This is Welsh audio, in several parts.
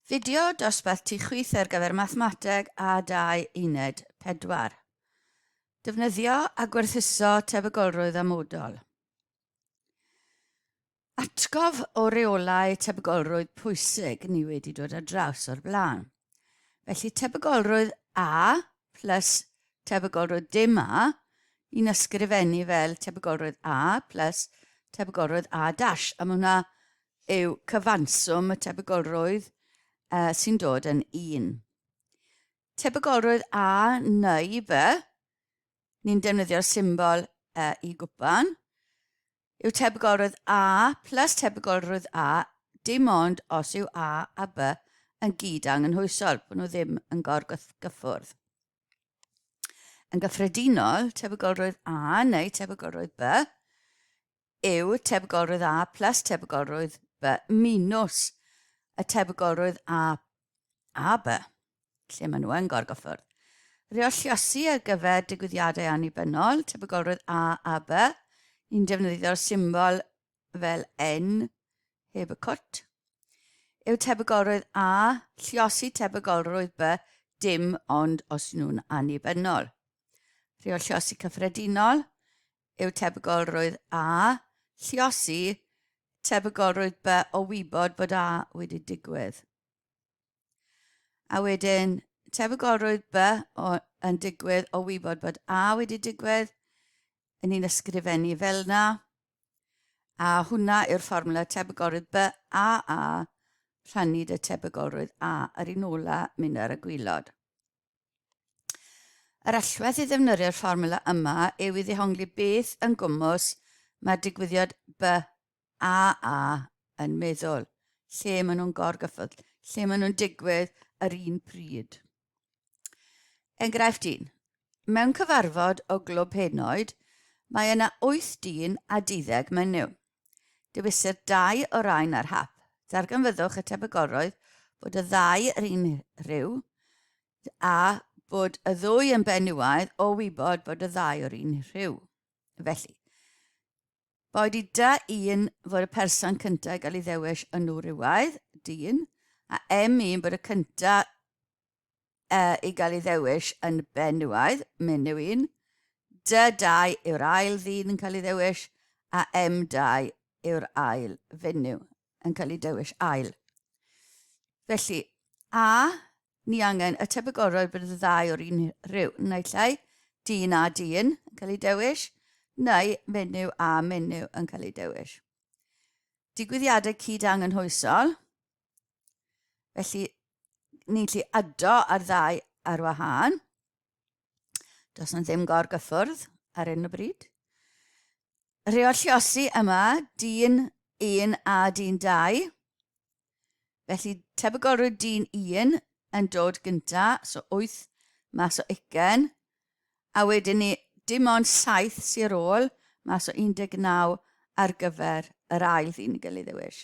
Fideo dosbarth tu chwith ar gyfer mathemateg a 2 uned 4. Defnyddio a gwerthuso tebygolrwydd amodol. Atgof o reolau tebygolrwydd pwysig ni wedi dod ar draws o'r blaen. Felly tebygolrwydd A plus tebygolrwydd dim A, i'n ysgrifennu fel tebygolrwydd A plus tebygolrwydd A dash, a mae hwnna yw cyfanswm y tebygolrwydd uh, sy'n dod yn un. Tebygolrwydd A neu B, ni'n defnyddio'r symbol uh, i gwpan, yw tebygolrwydd A plus tebygolrwydd A dim ond os yw A a B yn gyd angenhwysol, bod nhw ddim yn gorgyffwrdd. Yn gyffredinol, tebygolrwydd A neu tebygolrwydd B yw tebygolrwydd A plus tebygolrwydd B minus y tebygolrwydd A, A B, lle maen nhw yn gorgyffwrdd. Reolliosi ar gyfer digwyddiadau annibynnol, tebygolrwydd A a B, ni'n defnyddio'r symbol fel N heb y cwt, yw tebygolrwydd A, lliosi tebygolrwydd B, dim ond os nhw'n annibynnol. Rheolliosi cyffredinol yw tebygolrwydd A, lluosi, tebygolrwydd B o wybod bod A wedi digwydd. A wedyn, tebygolrwydd B o, yn digwydd o wybod bod A wedi digwydd, yn ni'n ysgrifennu fel yna, a hwnna yw'r fformwla tebygolrwydd B A A, rhannu dy tebygolrwydd A, yr un ola mynd ar y gwylod. Yr allwedd i ddefnyddio'r fformula yma yw i ddehongli beth yn gwmws mae'r digwyddiad by a a yn meddwl, lle maen nhw'n gorgyffwrdd, lle maen nhw'n digwydd yr un pryd. Enghraifft un. Mewn cyfarfod o glwb henoed, mae yna 8 dyn a 12 menyw. Dewisir dau o rain ar hap. Darganfyddwch y tebygolrwydd bod y ddau yr un rhyw a bod y ddwy yn benywaidd o wybod bod y ddau o'r un rhyw. Felly, boed i da un fod y person cyntaf i gael ei ddewis yn nw rywaidd, dyn, a M1 bod y cyntaf i gael ei ddewis yn benywaidd, menyw un, D2 yw'r ail ddyn yn cael ei ddewis, a M2 yw'r ail fenyw yn cael ei dewis ail. Felly, a ni angen y tebygolrwydd bod y ddau o'r un rhyw, neu llai, dyn a dyn yn cael ei dewis, neu menyw a menyw yn cael ei dewis. Digwyddiadau cyd-angenhwysol, Felly, ni'n gallu ydo ar ddau ar wahân. Does yna ddim gor gyffwrdd ar un o bryd. Rheolliosi yma, dyn 1 a dyn 2. Felly, tebygolrwydd dyn 1 yn dod gynta, so 8 mas o ugen. A wedyn ni, dim ond 7 sy'n ôl mas o 19 ar gyfer yr ail ddyn i gael ei ddewis.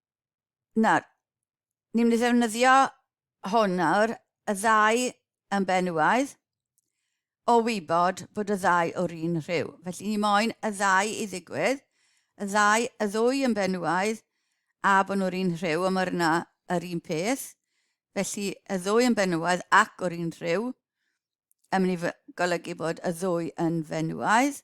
Nawr, ni'n mynd i ddefnyddio hwn nawr, y ddau yn benywaidd, o wybod bod y ddau o'r un rhyw. Felly ni moyn y ddau i ddigwydd, y ddau, y ddwy yn benywaidd, a bod nhw'r un rhyw, a mae'r yna yr un peth. Felly y ddwy yn benywaidd ac o'r un rhyw, yn mynd i golygu bod y ddwy yn fenywaidd.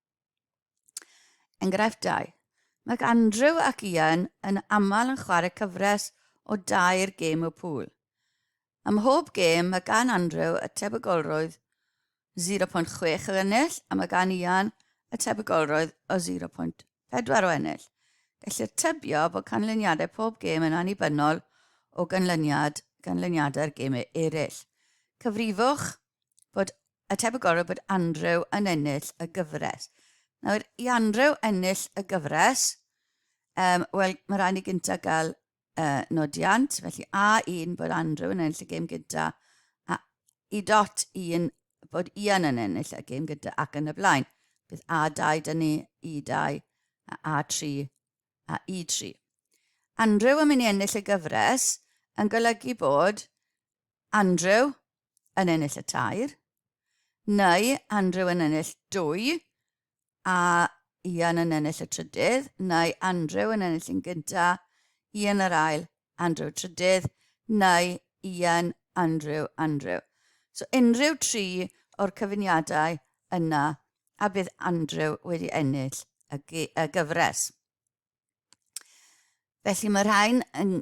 Enghraifft 2. Mae Andrew ac Ian yn aml yn chwarae cyfres o dair gêm o pŵl. Ym mhob gêm mae gan Andrew y tebygolrwydd 0.6 o ennill a mae gan Ian y tebygolrwydd o 0.4 o ennill. Gellir tybio bod canlyniadau pob gêm yn annibynnol o ganlyniad ganlyniadau'r gemau eraill. Cyfrifwch bod y tebygolrwydd bod Andrew yn ennill y gyfres. Nawr, i Andrew ennill y gyfres, um, wel, mae rhaid ni gyntaf gael uh, nodiant, felly A1 bod Andrew yn ennill y gêm gyntaf, a i dot 1 bod Ian yn ennill y gêm gyntaf ac yn y blaen. Bydd A2 dyn ni, I2, a A3 a I3. Andrew yn mynd i ennill y gyfres yn golygu bod Andrew yn ennill y tair, neu Andrew yn ennill dwy, a Ian yn ennill y trydydd, neu Andrew yn ennill yn gynta, Ian yr ail, Andrew trydydd, neu Ian, Andrew, Andrew. So unrhyw tri o'r cyfuniadau yna a bydd Andrew wedi ennill y, y gyfres. Felly mae rhain yn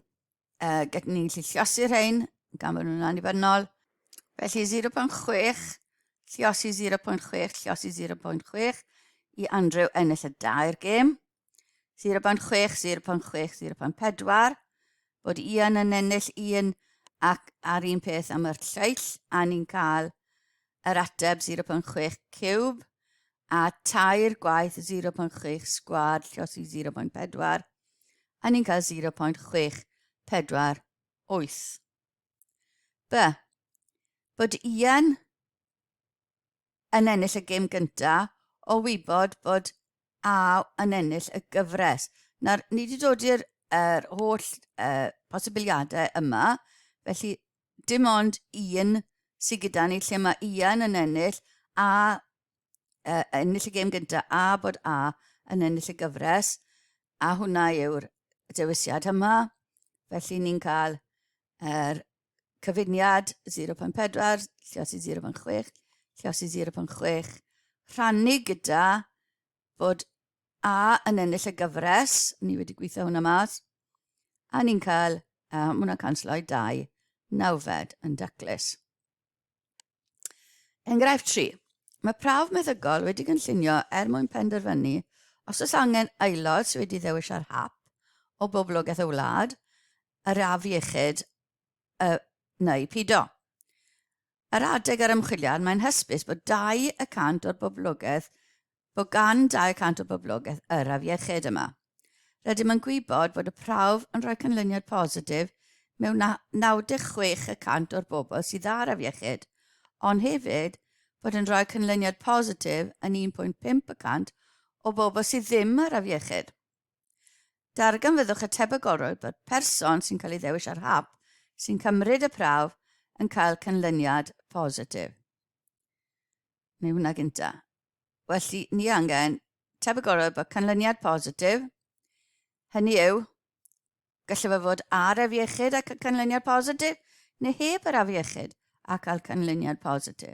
uh, gydyn ni'n gallu lliosi rhain gan fod nhw'n annibynnol. Felly 0.6, lliosi 0.6, lliosi 0.6 i Andrew ennill y dair gêm. 0.6, 0.6, 0.4, bod Ian yn ennill un ac ar un peth am yr lleill, a ni'n cael yr ateb 0.6 cube a tair gwaith 0.6 sgwad llosi 0.4 a ni'n cael 0.648. Be? Bod Ian yn ennill y gêm gynta o wybod bod A yn ennill y gyfres. Nawr, ni wedi dod i'r er, holl er, posibiliadau yma, felly dim ond un sydd gyda ni lle mae Ian yn ennill a uh, ennill y gêm gyntaf a bod A yn ennill y gyfres a hwnna yw'r dewisiad yma. Felly ni'n cael yr er cyfuniad 0.4, lliosi 0.6, lliosi 0.6, rhannu gyda fod A yn ennill y gyfres, ni wedi gweithio hwnna mas, a ni'n cael, a mae hwnna'n canslo i dau, nawfed yn daclus. Enghraifft 3. Mae prawf meddygol wedi gynllunio er mwyn penderfynu os oes angen aelod sydd wedi ddewis ar hap o boblogaeth y wlad, yr af iechyd y, neu pido. Ar adeg yr ymchwiliad, mae'n hysbys bod 200 o'r boblogaeth, bod gan 200 o boblogaeth yr afiechyd yma. Rydym yn gwybod bod y prawf yn rhoi canlyniad positif mewn 96 y cant o'r bobl sydd â'r afiechyd, ond hefyd bod yn rhoi canlyniad positif yn 1.5 y cant o bobl sydd ddim ar afiechyd. Darganfyddwch y tebygolrwydd bod person sy'n cael ei ddewis ar hap sy'n cymryd y prawf yn cael canlyniad positif. Neu hwnna gynta. Felly, ni angen tebygolrwydd bod canlyniad positif. Hynny yw, gallai fe fod ar ef iechyd ac y canlyniad positif, neu heb yr afiechyd ac ail canlyniad positif.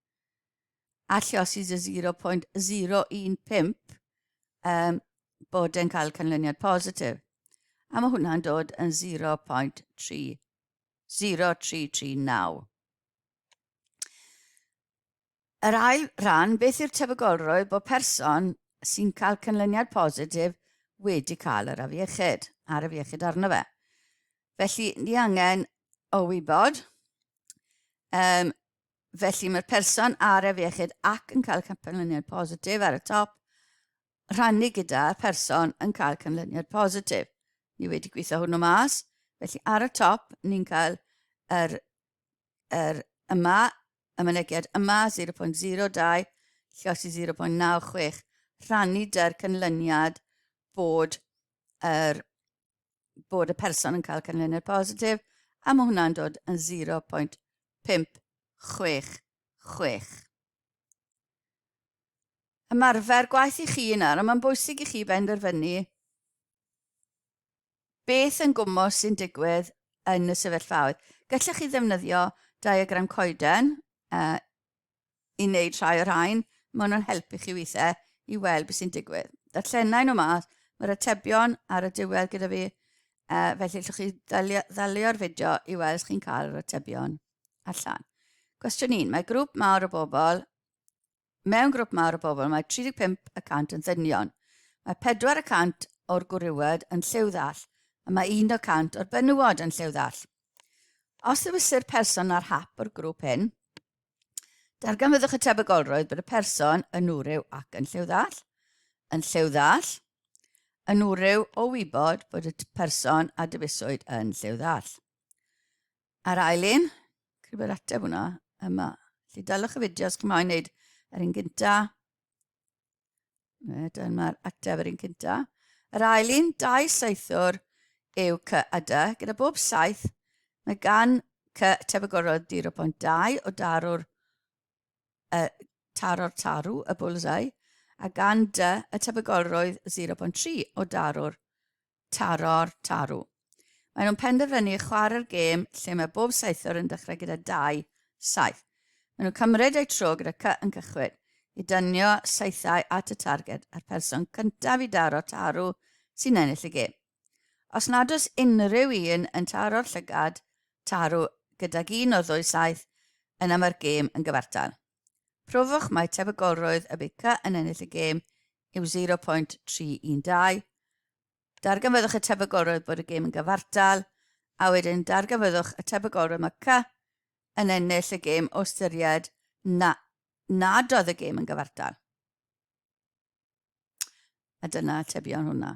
Alliosi y 0.015 um, bod e'n cael canlyniad positif. A mae hwnna'n dod yn 0.0339. Yr ail rhan, beth yw'r tebygolrwydd bod person sy'n cael canlyniad positif wedi cael yr afiechyd, ar afiechyd arno fe. Felly, ni angen o wybod um, Felly mae'r person ar ef iechyd ac yn cael canlyniad positif ar y top, rhannu gyda person yn cael canlyniad positif. Ni wedi gweithio hwnnw mas, felly ar y top ni'n cael yr, yr yma, y mynegiad yma 0.02, llosi 0.96, rhannu dy'r canlyniad bod yr bod y person yn cael cynlluniau positif, a mae hwnna'n dod yn 0.566. Ymarfer gwaith i chi yn ar, ond mae'n bwysig i chi benderfynu beth yn gwmwys sy'n digwydd yn y sefyllfaoedd. Gallwch chi ddefnyddio diagram coeden uh, i wneud rhai o'r rhain, maen nhw'n helpu chi weithiau i weld beth sy'n digwydd. Darllenau nhw mas, mae'r atebion ar y diwedd gyda fi, uh, felly llwch chi ddalio'r fideo i weld chi'n cael yr atebion allan. Cwestiwn 1. Mae grŵp mawr o bobl, mewn grŵp mawr o bobl, mae 35 y cant yn ddynion. Mae 4 y cant o'r gwrywed yn lliw ddall, a mae 1 o cant o'r benywod yn lliw ddall. Os ddewisir person ar hap o'r grŵp hyn, Darganfyddwch y tebygolrwydd bod y person yn wryw ac yn lliwddall, yn lliwddall, yn wryw o wybod bod y person a dyfiswyd yn lliwddall. A'r ail un, crybwyr ateb hwnna, yma. Felly dylwch y fideo os chi'n moyn wneud yr un gynta. Dyma'r ateb yr un cynta. Yr ail un, dau saethwr yw cy a dy. Gyda bob saith, mae gan cy tebygorodd 0.2 o darwr y taro'r tarw, y bullseye, a gan dy y tebygolrwydd 0.3 o darwr Taro'r tarw. Maen nhw'n penderfynu chwarae'r gêm lle mae bob saethwr yn dechrau gyda dau saeth. Maen nhw'n cymryd eu tro gyda cy yn cychwyn i dynio saethau at y targed a'r person cyntaf i daro tarw sy'n ennill y gêm. Os nad oes unrhyw un yn taro'r llygad tarw gydag un o'r ddwy saeth, yna mae'r gêm yn gyfartal. Profwch mai tebygolrwydd y bydd Cy yn ennill y gêm yw 0.312. Darganfyddwch y tebygolrwydd bod y gêm yn gyfartal, a wedyn darganfyddwch y tebygolrwydd mae Cy yn ennill y gêm o ystyried na, nad oedd y gêm yn gyfartal. A dyna atebion hwnna.